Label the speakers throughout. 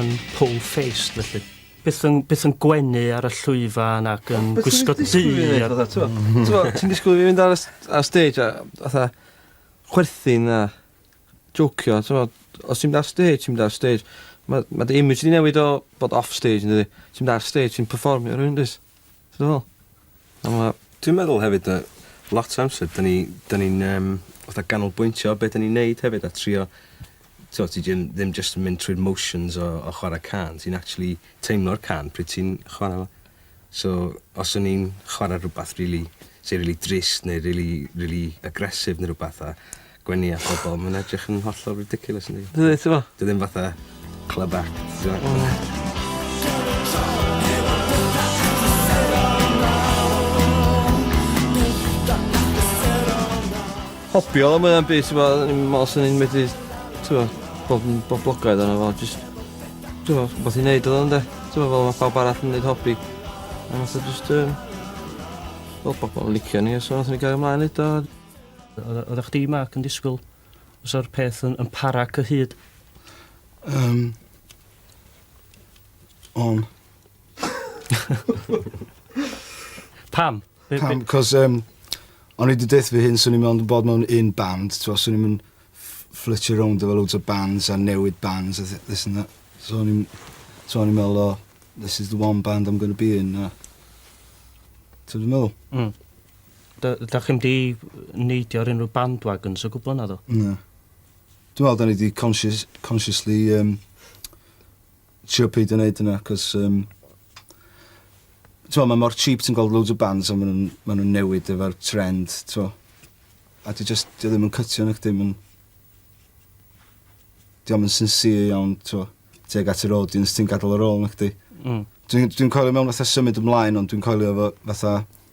Speaker 1: yn pole-faced felly. Byth yn, byth yn gwenu ar y llwyfan ac yn Beth gwisgo ti'n du. disgwyl i fi wneud, fatha, t'mo'?
Speaker 2: T'mo', ti'n disgwyl i fi fynd ar y s- ar y stage a fatha chwerthin a jocio, t'mo'? Os ti'n mynd ar stage, ti'n mynd ar stage. Ma' ma' dy image di newid o bod off stage yndydi? Ti'n mynd ar stage, ti'n perfformio rywun dwyt? Ti'n meddwl? A ma'...
Speaker 3: Dwi'n meddwl hefyd yy lot o amser 'dyn ni 'dyn ni'n yym fatha ganolbwyntio be' 'dyn ni'n neud hefyd a trio t'o' ti jyn- ddim jyst yn mynd trwy'r motions o o chwara cân ti'n actually teimlo'r cân pryd ti'n chwara fo. So os o'n i'n chwara rwbath rili sy rili drist neu rili rili aggressive ne' rwbath a gwenu a phobol ma'n edrych yn hollol ridiculous yndi? Yndi t'mo'? 'Di o ddim fatha club act t'mo'? Na.
Speaker 2: Hopio am wnna byth t'mo' o'n i'n me'wl swn i'n medru t'mo' bod yn boblogaidd yno fo jyst t'mo' wbath i neud odd o ynde? T'mo' fel ma' pawb arall yn neud hobi. A nath o jyst yym fel pobol yn licio ni a so nathon ni gario mlaen neud o a Oedda
Speaker 1: chdi, Mark, yn disgwyl os o'r peth yn, yn para cyhyd? Um, on. Pam? Pam,
Speaker 4: cos um, o'n i wedi deitha fy hyn, swn i'n mewn bod mewn un band, swn i'n mynd fflitio rownd efo loads o bands a newid bands a this and that. So o'n i'n so o'n i'n meddwl, oh, this is the one band I'm going to be in. A... Ti'n meddwl? Mm. Da,
Speaker 1: da chi'n di neidio ar unrhyw bandwagons o gwbl naddo? Na.
Speaker 4: Dwi'n meddwl da ni di conscious, consciously um, trio peidio wneud yna, cos um, T'mo, mae mor cheap ti'n gweld loads o bands a maen nhw'n ma nhw newid efo'r trend, t'mo. A dwi just, dwi ddim yn cytio na chdi, ma'n... Dwi am yn sincere iawn, t'mo, teg at yr audience ti'n gadael ar ôl na chdi. Mm. Dwi'n dwi coelio mewn fatha symud ymlaen ond dwi'n coelio efo fatha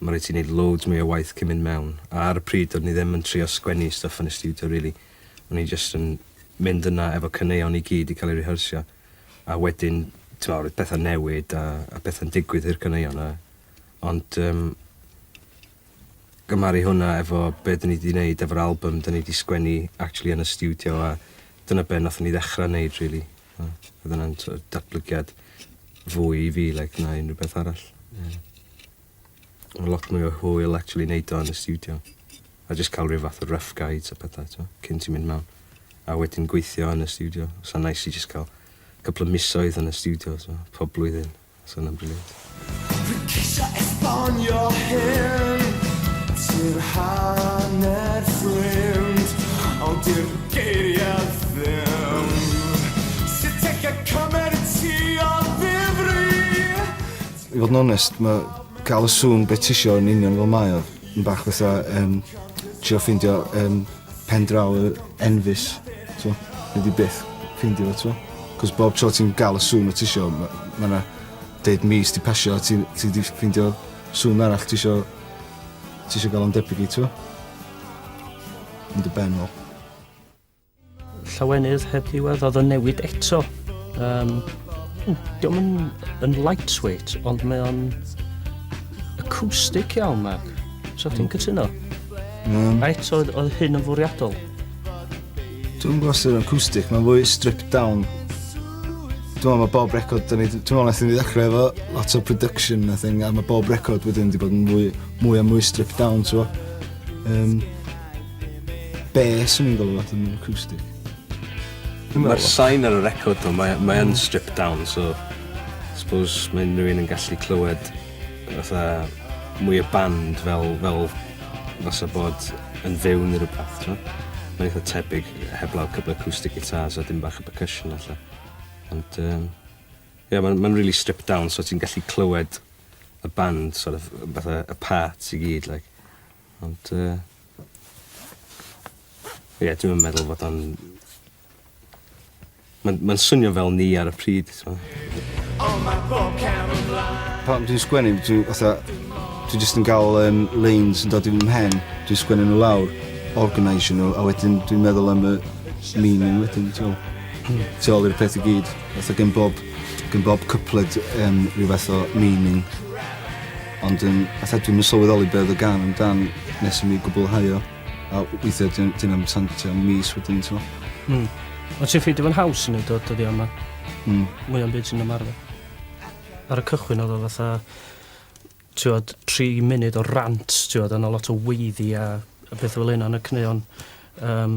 Speaker 3: Mae rhaid ti neud loads mwy o waith cyn mynd mewn. A ar y pryd do'n i ddim yn trio sgwennu stwff yn y stiwdio rili. O'n i jyst yn mynd yna efo caneuon i gyd i cael eu rehearsio. A wedyn, t'mo', roedd pethau'n newid a a pethau'n digwydd i'r caneuon a ond yym gymharu hwnna efo be' 'dyn ni 'di neud efo'r album 'dyn ni 'di sgwennu actually yn y stiwdio a dyna be' nathon ni ddechra neud rili. A oedd hwnna'n sort of datblygiad fwy i fi like, na unrhyw beth arall. Yeah. Mae lot mwy o hwyl actually neud o yn y studio. A just cael rhyw fath o rough guides a pethau, to, cyn ti'n mynd mewn. A wedyn gweithio yn y studio. Sa'n nice i just cael couple of misoedd yn y studio, so, pob blwyddyn. So yna'n briliant. Fi ceisio esbonio hyn Ti'r hanner ffrind Ond di'r geiriau ddim Sut teg y cymer ti o
Speaker 4: ddifri I fod yn onest mae cael y sŵn be tisio yn union fel mae o yn bach fatha yym trio ffeindio yym pen draw yy enfys t'mo' nei di byth ffeindio fo t'mo'? 'C'os bob tro ti'n ga'l y sŵn wt tisio ma' ma' 'na deud mis 'di pasio a ti'n ti 'di ffindio sŵn arall tisio tisio ga'l o'n debyg i t'mo'? Yn dy ben ôl. Llawenydd
Speaker 1: heb ddiwedd odd yn newid eto yym w dio'm yn yn lightweight ond mae o'n acoustic iawn Mark. Sa chdi'n cytuno? Mm. Reit, oedd, oedd hyn yn fwriadol?
Speaker 4: Dwi'n gwybod sy'n acoustic, mae'n fwy stripped down. Dwi'n meddwl mae bob record, dwi'n meddwl nath ni ddechrau efo lot o production a thing, a mae bob record wedyn wedi bod yn mwy, mwy a mwy stripped down, ti'n gwybod. Um, Bes yn i'n gwybod fath yn acoustic.
Speaker 3: Mae'r sain ar y record o, mae'n mae, mae stripped down, so suppose mae unrhyw un yn gallu clywed fatha mwy o band fel fel fasa bod yn fyw neu rhywbeth, ti'n gwbod? Mae'n eitha tebyg, heblaw couple acoustic guitars a dim bach o percussion allan. Ond um, ie, mae'n ma really stripped down, so ti'n gallu clywed y band, sort of, fatha y parts i gyd, like. Ond, uh, ie, yeah, dwi'n meddwl fod o'n Mae'n ma swnio fel ni ar y pryd, so.
Speaker 4: Pan dwi'n sgwennu, dwi'n fatha... Dwi jyst yn gael um, lanes yn dod i'n mhen, dwi'n sgwennu nhw lawr, organisio nhw, a wedyn dwi'n meddwl am y meaning wedyn, ti'n tu ôl i'r peth i gyd. Fatha gen bob, gen bob cypled um, rhyw fath o meaning. Ond um, fatha dwi'n sylweddoli beth y gan amdan nes i mi gwblhau o. A weithia' dy- dyw e'm tan tua mis wedyn t'mo'? Hmm. Ond ti'n ffeindio
Speaker 1: fo'n haws i neud o dyddia' yma? Hmm. Mwy o'm byd ti'n ymarfer. Ar y cychwyn odd o fatha t'wod tri munud o rant t'wod a 'na lot o weiddi a a petha fel 'yn a 'na caneuon yym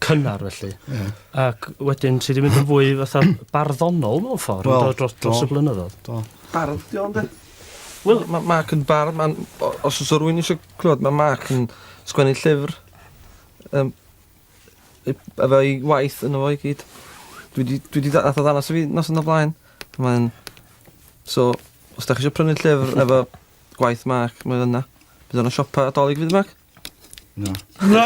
Speaker 1: cynnar felly. Ie. Ac wedyn ti 'di mynd yn fwy fatha barddonol mewn ffordd yn do dros dros y blynyddodd. Do. Bardd 'di o
Speaker 2: ynde? Wel ma' Mark yn bardd ma'n o- os o's 'a rywun isio Clywed ma' Mark yn sgwennu llyfr yym yy efo'i waith yno fo i gyd. Dwi 'di dwi 'di da- nath o ddanas i fi noson o blaen. Mae'n so os 'dach chi isio prynu llyfr efo gwaith Mark mae o yna. Bydd o yn y siopa Dolig fydd Mark?
Speaker 4: Na.
Speaker 2: Na!